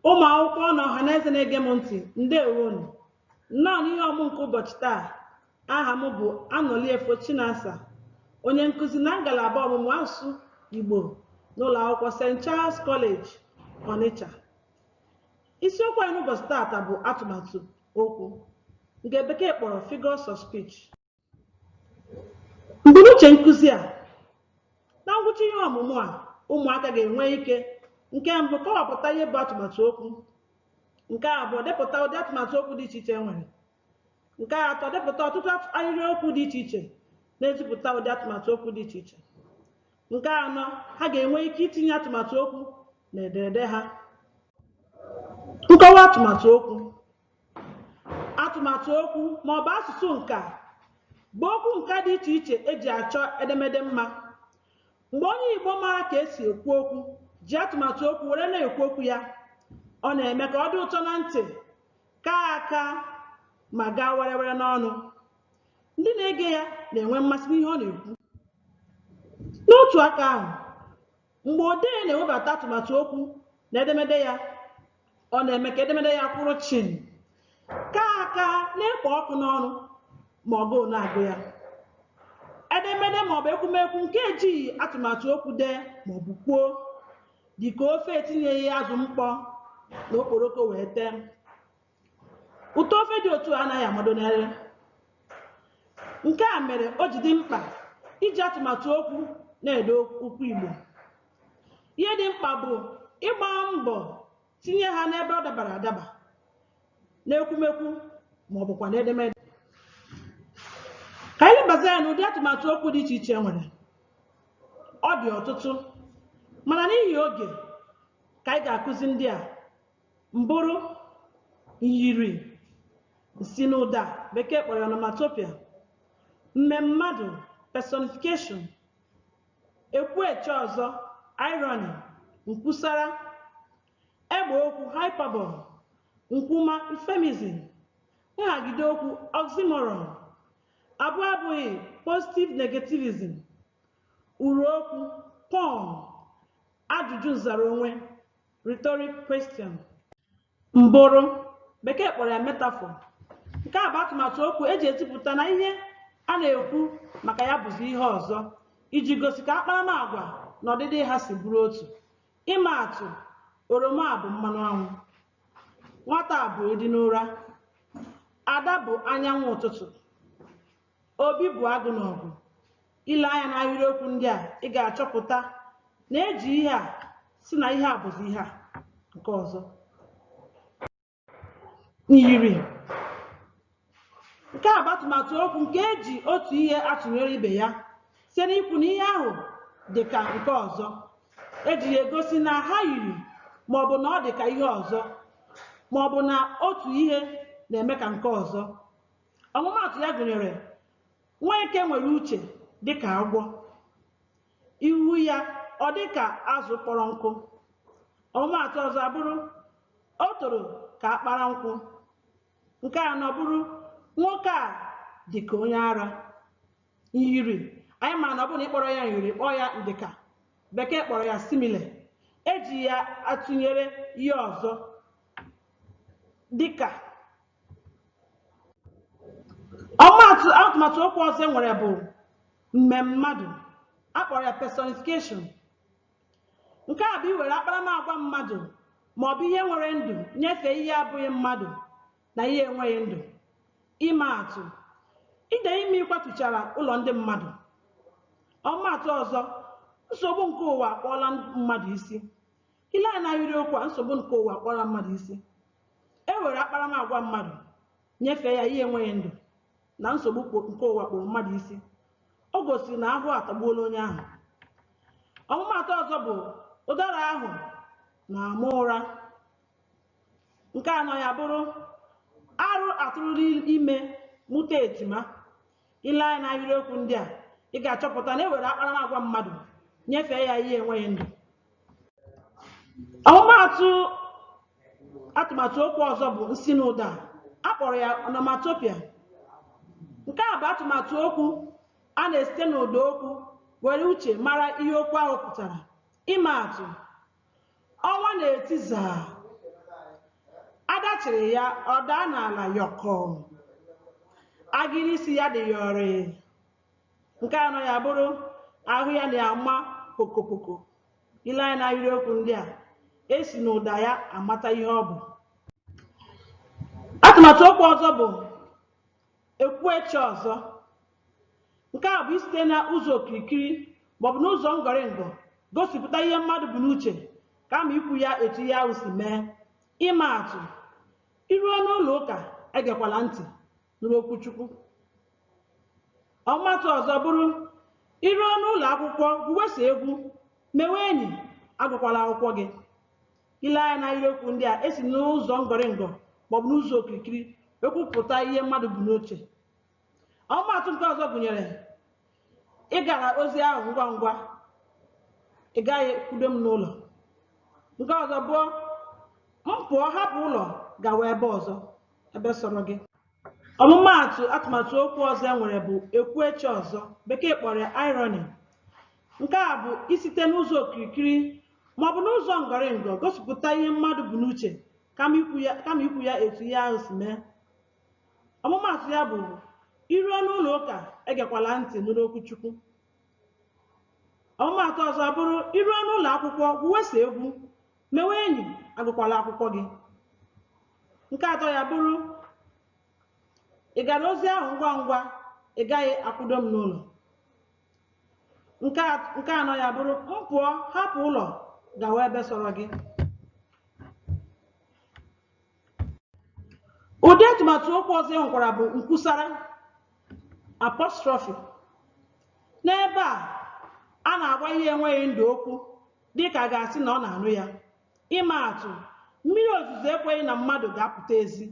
Ụmụ akwụkwọ na ọha na eze na-ege m ntị, ndewonu. Nnọọ n'ihe ọmụ nke ụbọchị taa, aha m bụ Anọliefo Chinasa, onye nkụzi na ngalaba ọmụmụ asụsụ Igbo n'ụlọ akwụkwọ St. Charles College, Onitsha. Isiokwu anyị n'ụbọchị taata bụ atụmatụ okwu nke bekee kpọrọ figures of speech. Mbunuche nkụzi a na ngwụcha ihe ọmụmụ a ụmụaka ga-enwe ike nke mbụ kọwapụta ihe bụ atụmatụ okwu nke abụọ depụta ụdị atụmatụ okwu dị iche iche e nwere nke atọ depụta ọtụtụ ahịrịokwu dị iche iche na-ezipụta ụdị atụmatụ okwu dị iche iche nke anọ ha ga-enwe ike itinye atụmatụ okwu na ederede ha nkọwa atụmatụ okwu atụmatụ okwu ma ọ bụ asụsụ nka bụ okwu nka dị iche iche eji achọ edemede mma mgbe onye igbo mara ka esi ekwu okwu ji atụmatụ okwu were na-ekwu okwu ya ọ na-eme ka ọ dị ụtọ na ntị kaa aka ma gaa werewere n'ọnụ ndị na-ege ya na-enwe mmasị n'ihe ọ na-ekwu n'otu aka ahụ mgbe odee na-ewebata atụmatụ okwu na edemede ya ọ na-eme ka edemede ya kwụrụ chịm kaa aka na-ekpo ọkụ n'ọnụ ma ọgụụ na-agụ ya edemede maọbụ ekwumekwu nke ejighị atụmatụ okwu dee maọbụ kwuo dịka ofe etinyeghị azụ mkpọ na okporoko wee tee ụtọ ofe dị otu a anaghị amado n'ire nke a mere o ji dị mkpa iji atụmatụ okwu na-ede okwu igbo ihe dị mkpa bụ ịgba mbọ tinye ha n'ebe ọ dabara adaba n'ekwumekwu ma ọ bụkwa n'edemede ka anyị lebazi anya n'ụdị atụmatụ okwu dị iche iche e nwere ọ dị ọtụtụ mana n'ihi oge ka anyị ga-akụzi ndị a mbụrụ myiri nsinụda bekee kpọrọ ya onomatopoeia mmemmadụ personification ekwueche ọzọ irony nkwusara egbe okwu hyperbole nkwuma euphemism nhagide okwu oxymoron abụ abụghị positive negativism uru okwu pun ajụjụ nzara onwe Rhetoric question. Mbụrụ, bekee kpọrọ ya metaphor. Nke a bụ atụmatụ okwu eji ezipụta na ihe a na-ekwu maka ya bụzi ihe ọzọ iji gosi ka akparamagwa na ọdịdị ha si bụrụ otu. Ịma atụ, oroma a bụ mmanụ anwụ. Nwata a bụ edi n'ụra. Ada bụ anyanwụ ụtụtụ. Obi bụ agụ n'ọgụ. Ile anya n'ahịrịokwu ndị a, ị ga-achọpụta na eji ihe a sị na ihe a bụzi ihe a nke ọzọ. Myiri. Nke a bụ atụmatụ okwu nke eji otu ihe atụnyere ibe ya site n'ikwu na ihe ahụ dị ka nke ọzọ. Eji ya egosi na ha yiri maọbụ na ọ dị ka ihe ọzọ maọbụ na otu ihe na-eme ka nke ọzọ. ọmụmaatụ ya gụnyere nweke nwere uche dịka agwọ ihu ya ọ dịka azụ kpọrọ nkụ ọmụmaatụ ọzọ abụrụ o toro ka akpara nkwụ nke anọ bụrụ nwoke a dịka onye ara myiri anyị ma na ọ bụrụ na ị kpọrọ ya myiri kpọọ ya ndịka bekee kpọrọ ya simile eji ya atụnyere ihe ọzọ dịka ọmụmaatụ atụmatụ okwu ọzọ e nwere bụ mmemmadụ a kpọrọ ya personification nke a bụ iwere akparamagwa mmadụ ma ọ bụ ihe nwere ndụ nyefee ihe abụghị mmadụ na ihe enweghị ndụ ịma atụ ide mmiri kwatuchara ụlọ ndị mmadụ ọmụmaatụ ọzọ nsogbu nke ụwa akpụọla mmadụ isi ile anya n'ahịrịokwu a nsogbu nke ụwa akpụọla mmadụ isi e were akparamagwa mmadụ nyefee ya ihe enweghị ndụ na nsogbu nke ụwa kpụrụ mmadụ isi o gosiri na ahụhụ atagbuola onye ahụ ọmụmaatụ ọzọ bụ ụdara ahụ na-ama ụra nke anọ ya bụrụ arụ atụrụla ime mụta ejima ile anya n'ahịrịokwu ndị a ị ga-achọpụta na e were akparamagwa mmadụ nyefee ya ihe enweghị ndụ ọmụmaatụ atụmatụ okwu ọzọ bụ nsinụda a kpọrọ ya onomatopoeia nke a bụ atụmatụ okwu a na-esite n'ụda okwu were uche mara ihe okwu ahụ pụtara ịma atụ ọnwa na-eti zaa adachiri ya ọ daa n'ala yọkọọ agịrị isi ya dị yọrịị nke anọ ya bụrụ ahụ ya na-ama pokopoko ile anya n'ahịrịokwu ndị a e si n'ụda ya amata ihe ọ bụ atụmatụ okwu ọzọ bụ ekwueche ọzọ nke a bụ isite na ụzọ okirikiri maọbụ n'ụzọ ngọrịngọ gosipụta ihe mmadụ bu n'uche kama ikwu ya etu ihe ahụ si mee ịma atụ i ruo n'ụlọ ụka egekwala ntị nụrụ okwu Chukwu. Ọmụmaatụ ọzọ bụrụ i ruo n'ụlọ akwụkwọ gwuwe sọ egwu mewe enyi agụkwala akwụkwọ gị. I lee anya n'ahịrịokwu ndị a e si n'ụzọ ngọrịngọ maọbụ n'ụzọ okirikiri ekwupụta ihe mmadụ bu n'uche. Ọmụmaatụ nke ọzọ gụnyere ị gara ozi ahụ ngwa ngwa ị gaghị kwudo m n'ụlọ nke ọzọ bụ m pụọ hapụ ụlọ gawa ebe ọzọ ebe sọrọ gị ọmụmaatụ atụmatụ okwu ọzọ e nwere bụ ekwueche ọzọ bekee kpọrọ ya irony nke a bụ isite n'ụzọ okirikiri maọbụ n'ụzọ ngọrịngọ gosipụta ihe mmadụ bu n'uche kama ikwu ya etu ihe ahụ si mee ọmụmaatụ ya bụ i ruo n'ụlọ ụka egekwala ntị nụrụ okwu chukwu ọmụmaatụ ọzọ bụrụ i ruo n'ụlọ akwụkwọ gwuwe sọ egwu mewe enyi agụkwala akwụkwọ gị nke atọ ya bụrụ ị gara ozi ahụ ngwa ngwa ị gaghị akwụdo m n'ụlọ nke anọ ya bụrụ m pụọ hapụ ụlọ gawa ebe sọrọ gị ụdị atụmatụ okwu ọzọ e nwekwara bụ nkwusara apostrophe n'ebe a a na-agwa ihe enweghị ndụ okwu dị ka a ga-asị na ọ na-anụ ya. Ịma atụ, mmiri ozuzo ekweghị na mmadụ ga-apụta ezi.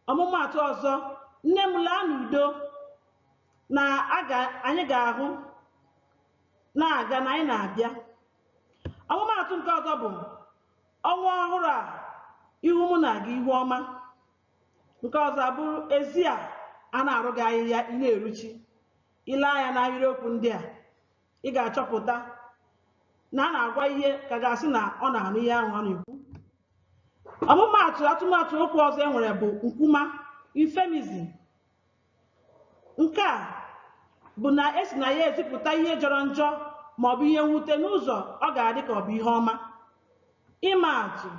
Ọmụmaatụ ọzọ, nne m laa n'udo na anyị ga-ahụ na-aga na anyị na-abịa. Ọmụmaatụ nke ọzọ bụ ọnwa ọhụrụ a ihu mụ na gị ihu ọma. Nke ọzọ abụrụ ezi a a na-arụ gị ahịhịa ị na-eruchi. I lee anya n'ahịrịokwu ndị a, ị ga-achọpụta na a na-agwa ihe ka a ga-asị na ọ na-anụ ihe ahụ ọ na-ekwu ọmụmaatụ atụmatụ okwu ọzọ e nwere bụ nkwuma euphemism nke a bụ na e si na ya ezipụta ihe jọrọ njọ ma ọ bụ ihe mwute n'ụzọ ọ ga-adị ka ọ bụ ihe ọma ịma atụ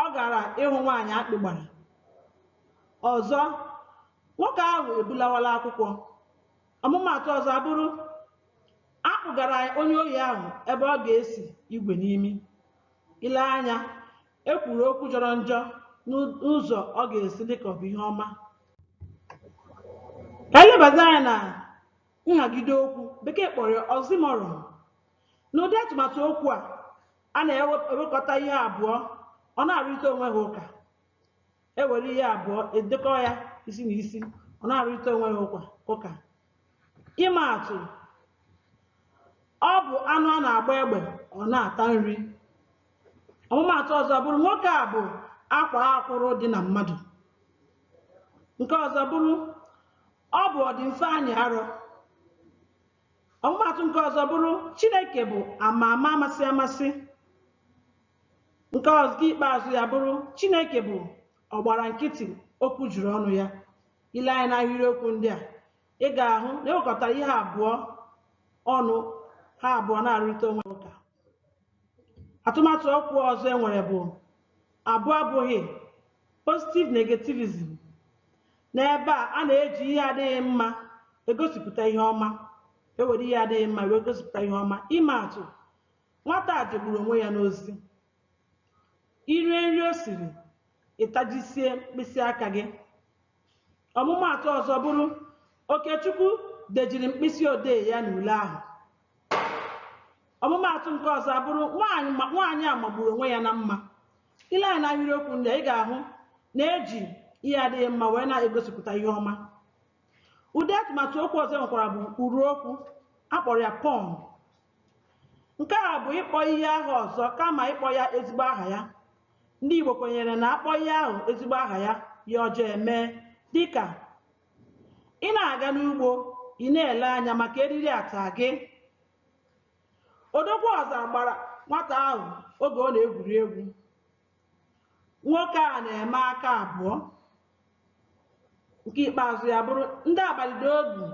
ọ gara ịhụ nwaanyị akpị gbara ọzọ nwoke ahụ ebulawala akwụkwọ ọmụmaatụ ọzọ abụrụ a kpụgara onye ohi ahụ ebe ọ ga-esi igwe n'imi i lee anya e kwuru okwu jọrọ njọ n'ụzọ ọ ga-esi dị ka ọ bụ ihe ọma ka anyị lebazie anya na nhagide okwu bekee kpọrọ ya oxymoron n'ụdị atụmatụ okwu a a na-ewekọta ihe abụọ ọ na-arụrịta onwe ha ụka ewere ihe abụọ edekọ ya isi na isi ọ na-arụrịta onwe ha ụka ịma atụ ọ bụ anụ a na-agba egbe ọ na-ata nri ọmụmaatụ ọzọ bụrụ nwoke a bụ akwaa akwụrụ dị na mmadụ nke ọzọ bụrụ ọ bụ ọdịmfe anyị arọ ọmụmaatụ nke ọzọ bụrụ chineke bụ ama ama amasị amasị nke ọzọ nke ikpeazụ ya bụrụ chineke bụ ọgbara nkịtị okwu juru ọnụ ya ile anya n'ahịrịokwu ndị a ị ga-ahụ na ewekọtara ihe abụọ ọnụ ha abụọ na-arụrịta onwe ha ụka atụmatụ okwu ọzọ e nwere bụ abụ abụghị positive negativism n'ebe a a na-eji ihe adịghị mma egosipụta ihe ọma ewere ihe adịghị mma wee gosipụta ihe ọma ịma atụ nwata a jegburu onwe ya n'ozi irie nri o siri ịtajisie mkpịsị aka gị ọmụmaatụ ọzọ bụrụ okechukwu dejiri mkpịsị odee ya n'ule ahụ ọmụmaatụ nke ọzọ bụrụ nwaanyị a magburu onwe ya na mma ile anya n'ahịrịokwu ndị a ị ga-ahụ na eji ihe adịghị mma wee na-egosipụta ihe ọma ụdị atụmatụ okwu ọzọ e nwekwara bụ urụ okwu akpọrọ ya pun nke a bụ ịkpọ ihe aha ọzọ kama ịkpọ ya ezigbo aha ya ndị Igbo kwenyere na akpọ ihe ahụ ezigbo aha ya ihe ọjọọ eme dịka ị na-aga n'ugbo ị na-ele anya maka eriri ata gị odogwu ọzara gbara nwata ahụ oge ọ na-egwuri egwu nwoke a na-eme aka abụọ nke ikpeazụ ya bụrụ ndị abalị dị egwu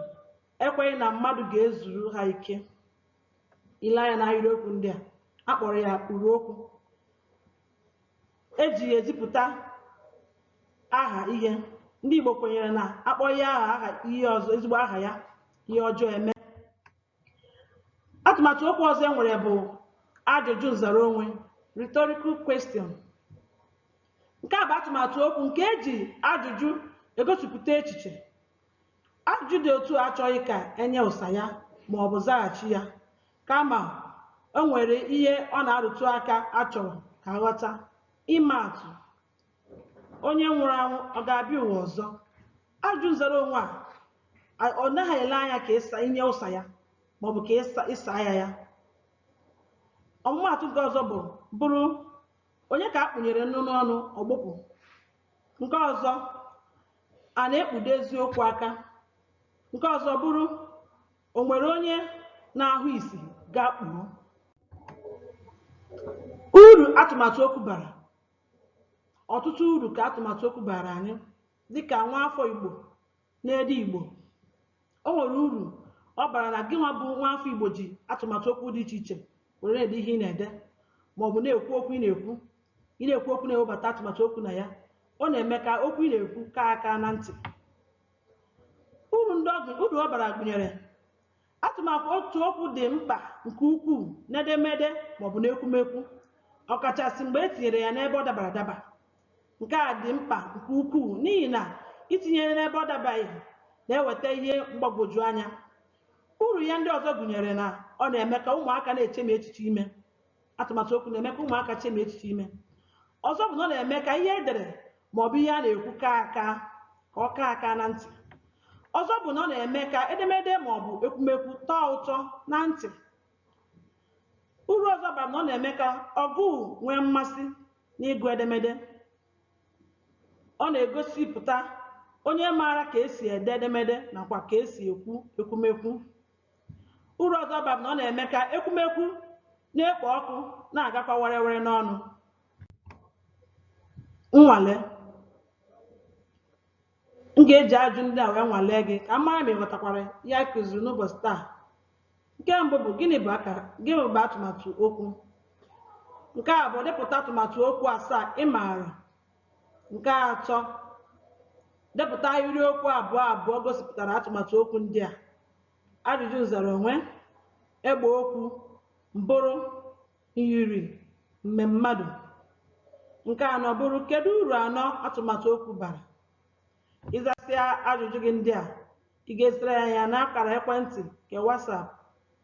ekweghị na mmadụ ga-ezuru ha ike ile anya na ahịrịokwu ndị a a kpọrọ ya urụ okwu eji ya ezipụta aha ihe ndị Igbo kwenyere na akpọ ya aha aha ihe ọzọ ezigbo aha ya ihe ọjọọ eme atụmatụ okwu ọzọ e nwere bụ ajụjụ nzara onwe rhetorical question nke a bụ atụmatụ okwu nke eji ajụjụ egosipụta echiche ajụjụ dị otu a achọghị ka enye ụsa ya ma ọ bụ zaghachi ya kama o nwere ihe ọ na-arụtụ aka achọrọ ka aghọta ịma atụ onye nwụrụ anwụ ọ ga-abịa ụwa ọzọ ajụjụ nzara onwe a ọ naghị ele anya ka ị sa i nye ụsa ya maọbụ ka ị saa ya ya ọmụmaatụ nke ọzọ bụ bụrụ onye ka a kpụnyere nnu n'ọnụ ọ gbụpụ nke ọzọ a na-ekpudo eziokwu aka nke ọzọ bụrụ o nwere onye na-ahụ ìsì gaa kpuru uru atụmatụ okwu bara ọtụtụ uru ka atụmatụ okwu baara anyị dịka nwa afọ Igbo na-ede Igbo o nwere uru ọ bara na gị nwa bụ nwa afọ Igbo ji atụmatụ okwu dị iche iche were na-ede ihe ị na-ede ma ọ bụ na-ekwu okwu ị na-ekwu ị na-ekwu okwu na-ewebata atụmatụ okwu na ya ọ na-eme ka okwu ị na-ekwu kaa aka na ntị uru ndị ọ bara gụnyere Atụmatụ okwu dị mkpa nke ukwuu n'edemede ma ọ bụ n'ekwumekwu, ọkachasị mgbe e tinyere ya n'ebe ọ dabara adaba. Nke a dị mkpa nke ukwuu n'ihi na itinye ya n'ebe ọ dabaghị na-eweta ihe mgbagwoju anya. Uru ya ndị ọzọ gụnyere na ọ na-eme ka ụmụaka na-echemi echiche ime atụmatụ okwu na-eme ka ụmụaka chemie echiche ime ọzọ bụ na ọ na-eme ka ihe edere ma ọ bụ ihe a na-ekwu kaa aka ka ọ kaa aka na ntị ọzọ bụ na ọ na-eme ka edemede ma ọ bụ ekwumekwu tọọ ụtọ na ntị uru ọzọ ọ bara bụ na ọ na-eme ka ọgụụ nwee mmasị n'ịgụ edemede ọ na-egosipụta onye maara ka esi ede edemede nakwa ka esi ekwu ekwumekwu uru ọzọ ọ bara bụ na ọ na-eme ka ekwumekwu na-ekpo ọkụ na-agakwa werewere n'ọnụ nnwale m ga-eji ajụjụ ndị a wee nwalee gị ka m mara ma ị ghọtakwara ihe anyị kụziri n'ụbọchị taa nke mbụ bụ gịnị bụ akara gịnị bụ atụmatụ okwu nke abụọ depụta atụmatụ okwu asaa ị maara Nke atọ, depụta ahịrịokwu abụọ abụọ gosipụtara atụmatụ okwu ndị a. Ajụjụ nzara onwe, egbe okwu, mbụrụ, myiri, mmemmadụ. Nke anọ bụrụ kedu uru anọ atụmatụ okwu bara? Ị zasịa ajụjụ gị ndị a, ị ga-ezitere anyị ya n'akara ekwentị nke WhatsApp